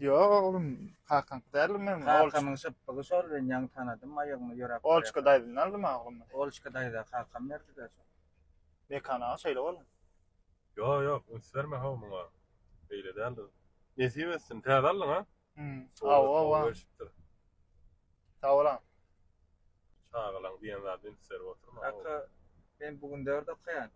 Ýok oglum, kakaňky däldir meň. Kakamyň şypbygy şol, men ýaňy tanadym, aýagyma ýöräp barýar. Olçka daýzamdan aldym-a oglum men. Olçka daýza kakam berdi-dä şony. Mekan aga şeýle boldy. Ýok, ýok, üns berme-how muňa. Beýle däldir. Nesip etsin. Täze aldyň-a? Hum, hawa-hawa. Gelşipdir. Sag bol-a. Çagalaň diýen zady üns berip oturma. Kaka, men bu gün dört okaýan.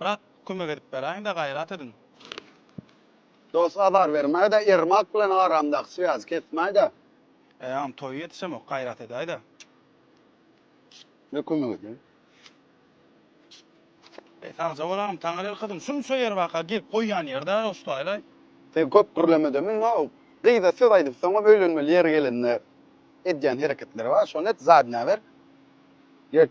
Brat kömek edip beräýiňdä gaýrat ediň. Dos azar bermäýdä Ermak bilen aramdaky swýazy kesmäýdä. Eýäňem toýy ýetişemok gaýrat edäýdä. Ne kömek edýäň. Eý sagja bolaň Taňry el gyzym şunça ýer baka gelip goýýan ýer däl Ostaýlaý. Sen köp gürlemede muňa o gyza söz aýdypsyňam öýlenmeli ýeri gelende edýän hereketleri bar şony et zadnä ber get.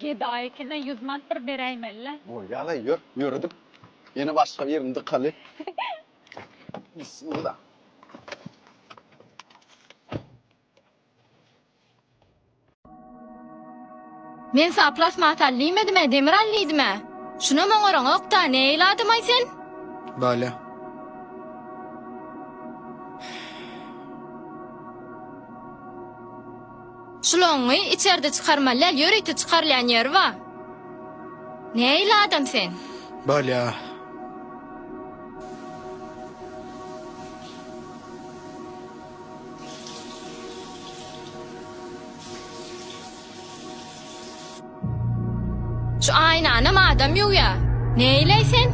Gedaýkine ýüz mant bir beräýmeli-le. Bolýa-laý, ýör, ýöredip, ýene başga birini dykaly. Bismillah. Men saňa plasmasa al diýmedim-ä, demir al diýdim-ä. Şunam oňaraňok-da, nähili adam-aý sen? Balýa. Şloňňy içerde çykarmaly däl, ýörite çykarylýan ýeri bar. Nähili adam sen? Bolýa. Şu aýnanam adam ýuwýa. Neýleý sen?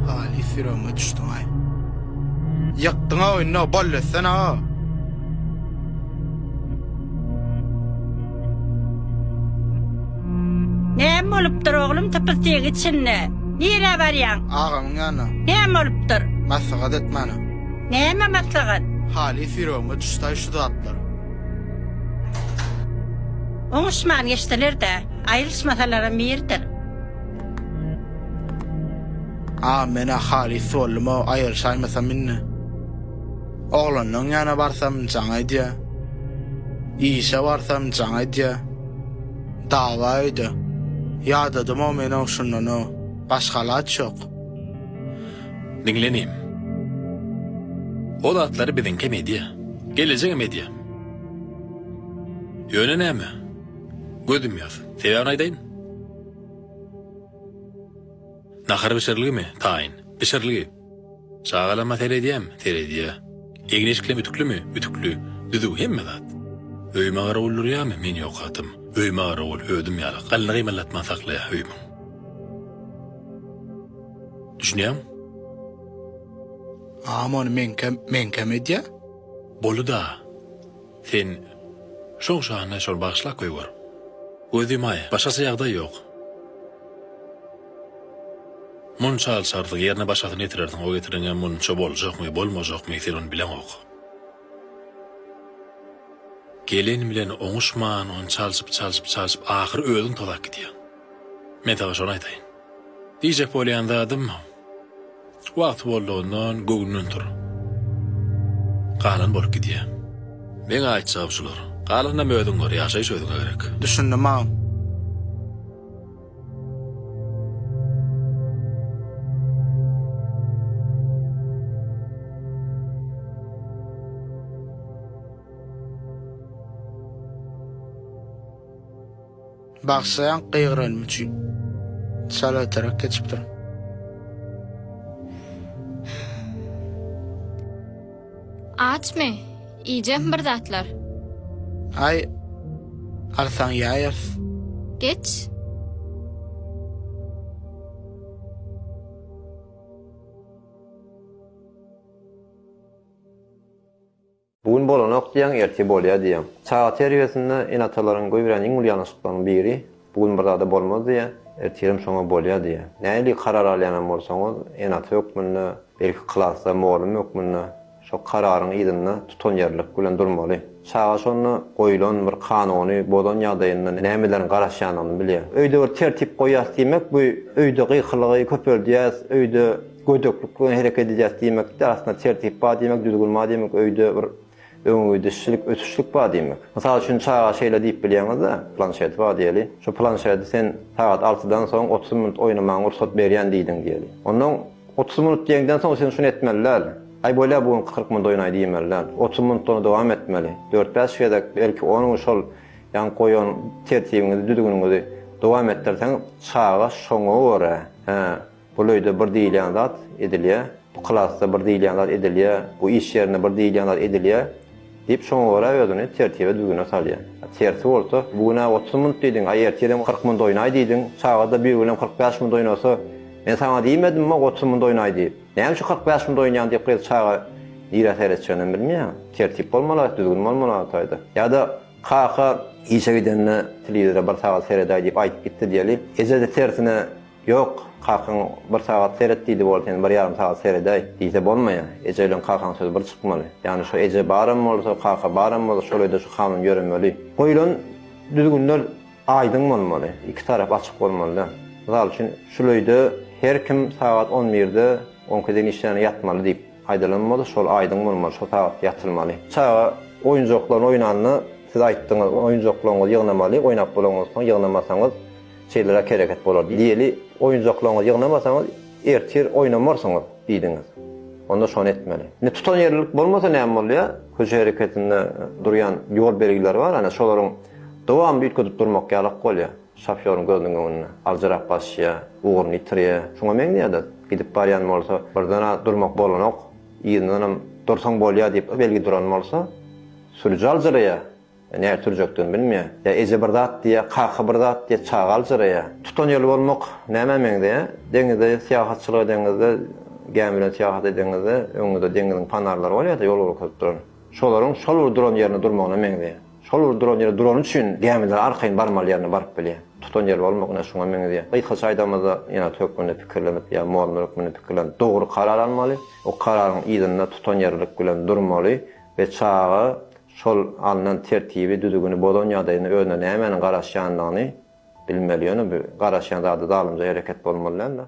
Haly syrygma düşdüňaý. Ýykdyňa indi ball etsen a. Näme bolupdyr oglum typystyk içinde? Nirä barýaň? Agamyň ýanyna. Näme bolupdyr? Maslahat et mana. Näme maslahat? Haly syrygma düşdäý şu zatlar. Oňuşman geçseler-de, aýrylyşmasalaram birdir. A men-ä halys boldum-ow, aýryşaýmasam indi. Oglanlaň ýana barsam, jaň edýä. Işe barsam, jaň edýä. Dawa öýde. Ýadadym-ow men-ow şundan-ow. Başga alaç ýok. Diňlenim. O zatlary biziňkem edýä. Gelejegem edýä. Ýöne näme? Göz ýumýas. Sebäbini aýdaýyn. Nahar bişiriligimi? Taýyn. Bişirilgi. Çagalama seredýäm? Seredýä. Egin-eşiklerim ütüklimi? Ütükli. Düzüw, hemme zat. Öýüme garawul durýamy? Men ýok atym. Öýüme garawul, özüm ýaly, galyny gymyldatman saklaýa öýümiň. Düşünýäňmi? Agam ony meňkem, meňkem edýä? Boly-da, sen şoň şanyna şol bagyşlap goýber. Göz ýumaý, başgaça ýagdaý ýok. Munça alçarsyň, ýerine başgasyny getirersiň, o getireňem munça boljakmy, bolmajakmy, sen ony bileňok. Gelen bilen oňuşman, ony çalşyp, çalşyp, çalşyp, ahyry özüň tozap gidýäň. Men saňa şony aýtaýyn. Diýjek bolýan zadym, wagty boldugyndan göwnünden tur. Galan bolup gidýär. Meň aýtjagym şular. Galanynam özüň gör, ýaşaýyş özüňe gerek. Düşündim agam. Bagşlaýaň gygyranym üçin. Çal öterek geçipdir. Açmy? Iýjekmi bir zatlar? Aý, alsaň ýaýarys. Geç. Bu gün bolanok diýýäň, ertir bolýar diýýäň. Çaga terbiýesinde ene-atalaryň goýberýän iň uly ýalňyşlyklaryň biri, bu gün bir zada bolmaz diýýär, ertirem şoňa bolýar diýýär. Nähili karar alýanam bolsaňyz, ene-ata hökmünde, belki klasda mugallym hökmünde şo kararyň yzynda tutanýerlilik bilen durmaly. Çaga şonda goýlan bir kanuny bozan ýagdaýynda nämeleriň garaşýandygyny bilýär. Öýde bir tertip goýýas diýmek, bu öýde gykylygy köpeldýäs, öýde Gödeklik bilen hereket edýäs diýmek däl, aslynda tertip bar diýmek, düzgün bar diýmek, öýde bir öňegidişlik, ötüşlik bar diýmek. Mysal üçin, çaga şeýle diýip bilýäňiz-dä, planşeti bar diýeli, şu planşeti sen sagat altydan soň otuz minut oýnamaga rugsat berýän diýdiň diýeli. Onnoň otuz minut diýeňden soň sen şuny etmeli däl. Aý bolýa bu gün kyrk minut oýnaý diýmeli däl. Otuz minut ony dowam etmeli. Dört-bäş gezek, belki on gün şol ýaňky goýan tertibiňizi, düzgüniňizi dowam etdirseň, çaga şoňa görä, hä, Bul öýde bir diýilýän zat edilýär, bu klasda bir diýilýän zat edilýär, bu iş ýerinde bir diýilýän zat edilýär diýip, şoňa görä özüni tertibe-düzgüne salýar. Tersi bolsa, bu gün-ä otuz minut diýdiň, aý ertirem kyrk minut oýnaý diýdiň, çaga-da bir günem kyrk bäş minut oýnasa, men saňa diýmedimmi otuz minut oýnaý diýip, näme üçin kyrk bäş minut oýnaýaň diýip gyz çaga nirä seretjeginem bilmeýär. Tertip bolmaly-a, düzgün bolmaly Altayda. Ýa-da kaka işe gidende telewizora bir sagat seredäý diýip aýdyp gitdi diýeli, eje-de tersine, Ýok, kakaň bir sagat seret diýdi bol sen bir ýarym sagat seredäý, diýse bolmaýar. Eje bilen kakaň sözi bir çykmaly. Ýagny şu eje baram bolsa, kaka baram bolsa şolaýda şu kanun ýöremeli. Goýlan düzgünler aýdyň bolmaly, iki tarap açyk bolmalyda. Mysal üçin şul öýde her kim sagat on birde on ikiye deýin işlände ýatmaly diýip aýdylan bolsa şol aýdyň bolmaly, şo sagat ýatylmaly. Çaga oýunjaklaryny oýnanda siz aýtdyňyz oýunjaklaryňyzy ýygnamaly, oýnap bolanyňyzsoň ýygnamasaňyz, Şeýleräk hereket bolar diýeli oýunjaklaryňyzy ýygnamasaňyz, ertir oýnamarsyňyz diýdiňiz. Onda şony etmeli. Indi tutanýerlilik bolmasa näme bolýar? Köçe hereketinde durýan ýol belgileri bar, ýöne şolaryň dowamly üýtgedip durmak ýalak bolýar. Şofýoryň gözüniň öňünde aljyrap basýar, ugruny ýitirýär. Şuňa meňzeýär-de, gidip barýan bolsa, birden-ä durmak bolanok, yzyndanam dursaň bolýar diýip belgi duran bolsa, sürüji aljyraýar. Näge sürjekdigini bilmeýär. Ýa eje bir zat diýýär, kaka bir zat diýýär, çaga aljyraýar. Tutan ýoly bolmak nämä meňzeýär? Deňizde syýahatçylyk edeňizde, gämi bilen syýahat edeňizde, öňüňizde deňiziň panarlary bolýar-da, ýol görkezip duran. Şolaryň şol bir duran ýerinde durmagyna meňzeýär. Şol bir duran ýerde durany üçin gämiler arkaýyn barmaly ýerine baryp bilýär. Tutan ýoly bolmak ine şuňa meňzeýär. Gysgaça aýdanymyzda, ýene-de hökmünde pikirlenip, ýa mordun hökmünde pikirlenip, dogry karar almaly. O kararyň yzynda tutanýerlilik bilen durmaly we çaga şol alnan tertibi, düzügini bozan ýagdaýynda özüne nämäniň garaşýandygyny bilmeli, ýöne bu garaşýan zady zalymja hereket bolmaly däldir.